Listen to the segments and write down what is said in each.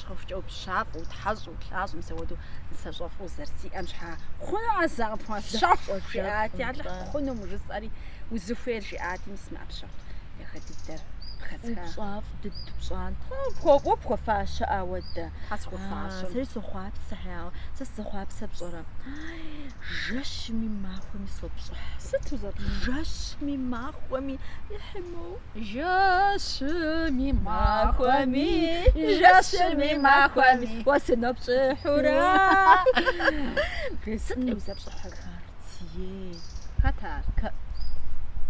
Щхьэхукӏэу, пщафӏэу, тхьэщӏэу, лӏащӏэм сэ уэдэу нысащӏэфӏу зэрызиӏэм щхьэ хъуну а зы къыпхуащэхур? жиӏати, Алыхь хъунум жысӏэри, узыхуейр жиӏати, мис мы ӏэпщэху дахэ дыдэр къыхэзха. Пщафӏ дыд пщӏантхъэ пхуэкӏуэу пхуэфащэ ауэ дэ. Тхьэ схуэфащэм. Сэри сохъуапсэ, хьяуэ, сэ сызохъуапсэ пщӏэрэ? Жэщми махуэми сопщӏыхь. Сыт узэпщӏыхь? Жэщми махуэми ихьи моуэ. Жэщыми махуэми, жэщыми махуэми, уэ сынопщӏыхьурэ. Сыт узэпщӏыхьыр? Картье. Хэт ар?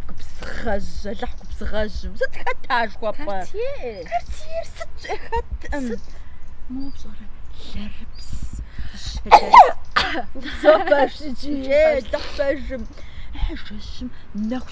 Губзыгъэжь, Алыхь губзыгъэжьым. Сыт хэт ар жыхуэпӏэр? Картье. Картьер сытщ, хэтӏым. Сыт? Мо пщӏэрэ лэрыпс. О, пэжщ жи, Алыхь пэжым. Жэщым нэху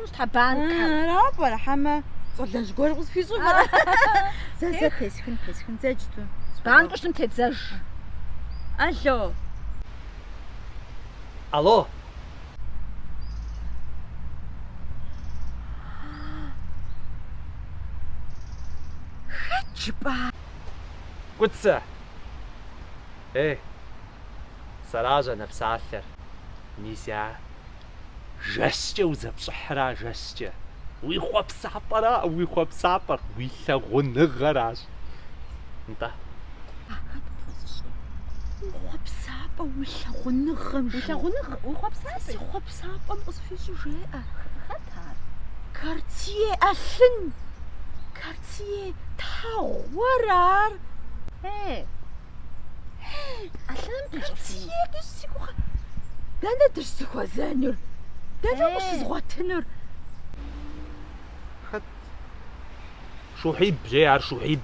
Щхьэ банкхэм? Ара пӏэрэ, хьэмэ щӏалэжь гуэр къысхуищӏыр пӏэрэ? Зэ, зэ, тесхын, тесхын, иджыпсту. Банку щытым тедзэж. Алло. Алло. Хэт жыпӏа? Кӏуцэ. Ей, сэращ а нэпсалъэр, мис я. жэщкӏэ узэпщӏыхьра жэщкӏэ. Уи хъуэпсапӏэра уи хъуэпсапӏэр, уи лъагъуныгъэращ. Нтӏэ. Ахэр къыпхуэзыщӏэ. Уи хъуэпсапӏэ уи лъагъуныгъэм жи. Уи лъагъуныгъи, уи хъуэпсапӏи. Си хъуэпсапӏэм къысхуищӏу жеӏэ. Хэт ар? Картье ӏэлъын! Картье тхьэгъура ар? Э! Алыхьым къищӏэти. Си гугъэ. Дэнэ дыщызыхуэзэнур? Дэнэ къыщызгъуэтынур? Хэт? Шухьиб, жи ар Шухьиб.